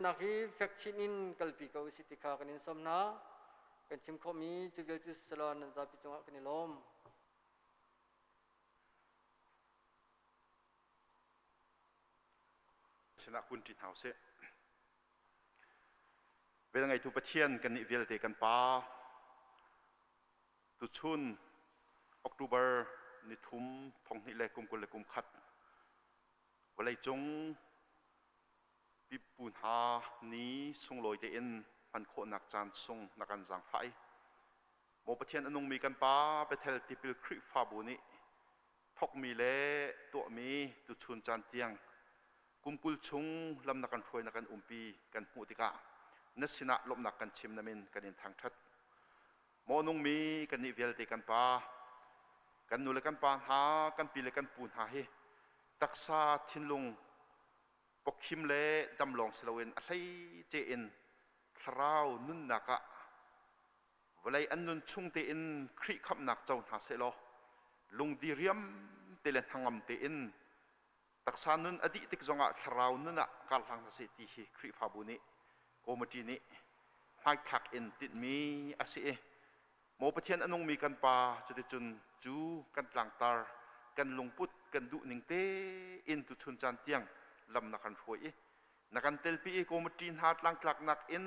Nak hi fek chin in kalpi ko usih ti kha kan in sawm hna. Kan chim khawhmi cu vialte silo nan zapi cungah kan i lawm. sinah kunṭi hna usih. Vel ngeitu Pathian kan nih vialte kan Pa, tuchun October ni thum thong hnih le kum kul le kum khat vawleicung Pipu hna ni sunglawi tein hman khawhnak caan chung na kan zaangfah i Maw Pathian a nungmi kan Pa, Bethel tipil Khrihfabu nih thawkmi le tuahmi tuchun caan tiang kum kul chung lam na kan hruai na kan umpi kan hmuh tikah na sinah lawmhnak kan chim namin kan in thangṭhat. Maw nungmi kan nih vialte kan Pa, kan nu le kan pa hna, kan pi le kan pu hna hi taksa, thinlung, pokkhim le dam lawng si loin a hleice in thlarau nunnak ah vawlei an nun chung tein Khrih khamhnak co hna sehlaw lungdiriam te le hnangam tein taksa nun a dih tik zongah thlarau nun ah karhlang hna seh ti hi Khrihfabu nih Committee nih hmaithlak in tinhmi a si i Maw Pathian a nungmi kan Pa, cuticun cu kan tlangtar, kan lungput kan duh ning tein tuchun caan tiang lam na kan hruai i na kan telpi i kawmiṭi hna tlangtlaknak in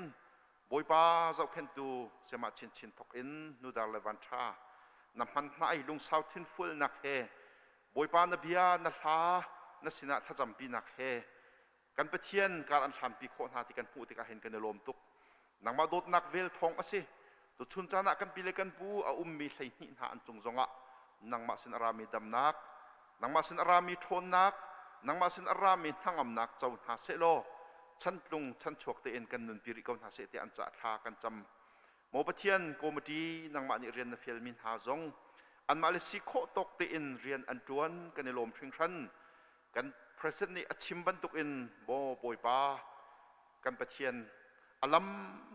Bawipa zohkhenhtu siamah chinchin thawk in nudar le vanṭha na hman hna i lungsau thinfualnak he Bawipa na bia na hla na sinah thlacampinak he Kan Pathian kar an hrampi khawh hna ti kan hmuh tikah hin kan i lawm tuk. Nangmah dawtnak vel thawng a si. Tuchun caan ah kan pi le kan pu, a ummi hleihnih hna an cung zongah nangmah sin a rami damnak, nangmah sin a rami ṭhawnnak, nangmah sin a rami hnangamnak co hna seh law chantlung chanchuak tein kan nunpi rih ko hna seh tiah an caah thla kan cam. Maw Pathian, Committee nangmah nih rian na fialmi hna zong anmah le si khawh tawk tein rian an ṭuan kan i lawm hringhran. Kan President nih a chim bantuk in Maw Bawipa, kan Pathian, a lam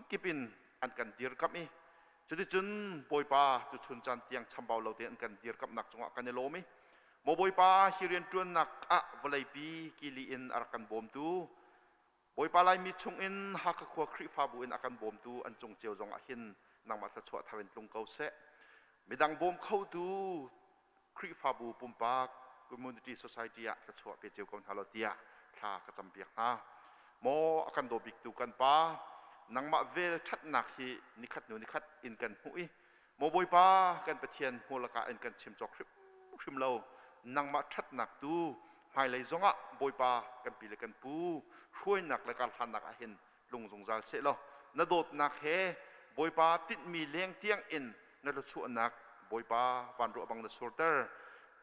kip in an kan dirkamh i cuticun Bawipa tuchun caan tiang chambau lo tein an kan dirkamhnak cungah kan i lawm i Maw Bawipa, hi rianṭuannak ah vawleipi kili in a rak kan bawmtu Bawipa Laimi chungin Hakha khua Khrihfabu in a kan bawmtu an cung cio zongah hin nangmah thluachuah thar in tlung ko seh. Midang bawm khotu Khrihfabu pumpak, community society, ah thluachuah pe cio ko hna law tiah thla ka campiak hna. Maw a kan daw biktu kan Pa, nangmah vel ṭhatnak hi nikhat hnu nikhat in kan hmuh i Maw Bawipa, kan Pathian hmual lakah in kan chim cawk hrimhrim lo, nangmah ṭhatnak tu hmailei zongah Bawipa kan pi le kan pu, hruainak le karhlannak ah hin lung zungzal seh law na dawtnak he Bawipa tinhmi leng tiangin na thluachuahnak Bawipa van ruah bang na surter,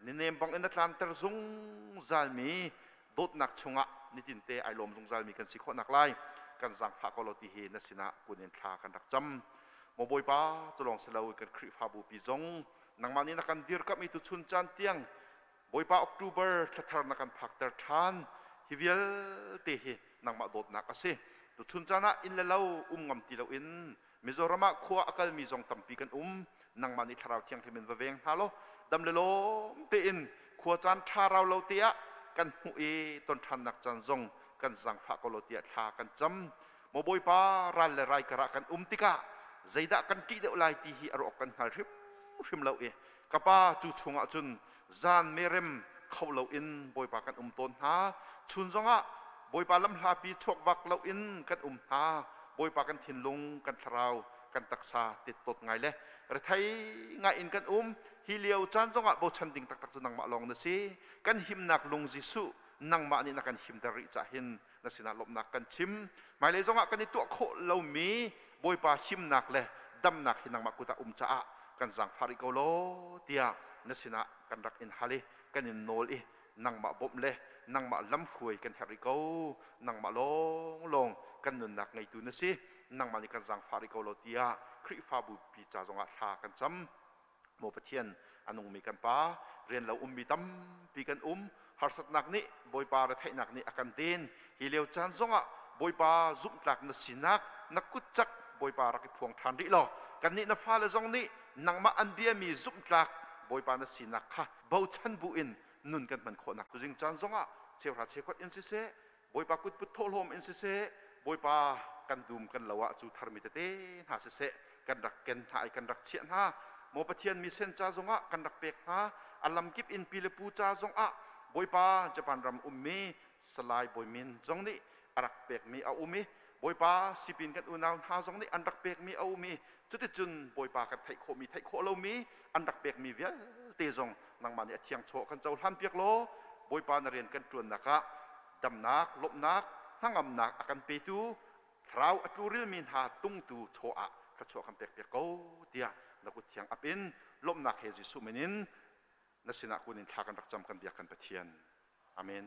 na nem bangin na tlanter zungzalmi dawtnak chungah nitinte ai lawm zungzalmi kan si khawhnak lai kan zaangfah ko law tihi na sinah kun in thla kan rak cam. Maw Bawipa, culawng si lo kan Khrihfabupi zong, nangmah nih na kan dirkamh i tuchun caan tiang Bawipa October thla thar na kan phakter ṭhan. Hi vialte hi nangmah dawtnak a si. Tuchun caan ah inn le lo um ngam ti loin Mizoram ah khua a kalmi zong tampi kan um. Nangmah nih Thlarau Thianghlim in va veng hna law dam le lawm tein khua caan ṭha rau lo te ah kan hmuh i tonṭhannak caan zong kan zaangfah ko law tiah thla kan cam. Maw Bawipa, ral le rai karah kan um tikah zeidah kan ṭih deuh lai ti hi a rawk kan hngal hrimhrim lo i ka Pa cu chungah cun zan merem kho loin Bawipa kan um tawn hna. Chun zongah Bawipa lamhlapi chuakvak loin kan um hna. Bawipa kan thinlung, kan thlarau, kan taksa tettawt ngai le rethei ngaiin kan um. Hi lio caan zongah bochan ding taktak cu nangmah lawng na si. Kan himnak lung Jesuh nangmah nih na kan himter rih cah hin na sinah lawmhnak kan chim. Hmailei zongah kan i tuah khawh lomi Bawipa himnak le damnak hi nangmah kut ah um caah kan zaangfah rih ko law tiah na sinah kan rak in hal i kan in nawl i nangmah bawmh le nangmah lamhruai kan herh rih ko. Nangmah lawnglawng kan nunnak ngeitu na si, nangmah nih kan zaangfah rih ko law tiah Khrihfabu pi ca zongah thla kan cam. Maw Pathian, a nungmi kan Pa, rian lo ummi tampi kan um, harsatnak nih Bawipa retheihnak nih a kan den, hi lio caan zongah Bawipa zumhtlak na sinak na kut cak Bawipa rak i phuang ṭhan rih law kannih na fale zong nih nangmah an biami zumhtlak Bawipa na sinak kha bochan buin nun kan hman khawhnak tuzing caan zongah cheuhra cheukat in siseh, Bawipa kutput thawhlawm in siseh, Bawipa kan dum kan lo ah cu tharmi tete hna siseh kan rak ken hna i kan rak chiah hna. Maw Pathian misen ca zongah kan rak pek hna, a lamkip in pi le pu ca zongah Bawipa Japan ram ummi Salai Bawi Min zong nih a rak pekmi a um i Bawipa sipin kan unau hna zong nih an rak pekmi a um i Cuticun Bawipa kan theih khawhmi, theih khawh lomi an rak pekmi vialte zong nangmah nih a thiangchaw kan cohlanpiak law Bawipa na rian kan ṭuannak ah damnak, lawmhnak, hnangamnak a kan petu thlarau a tlurelmi hna tungtu chaw ah thluachuah kan pekpiak ko tiah na kutthiang ap in lawmhnak he Jesuh min in na sinah kun in thla kan rak cam kan biak kan Pathian. Amen.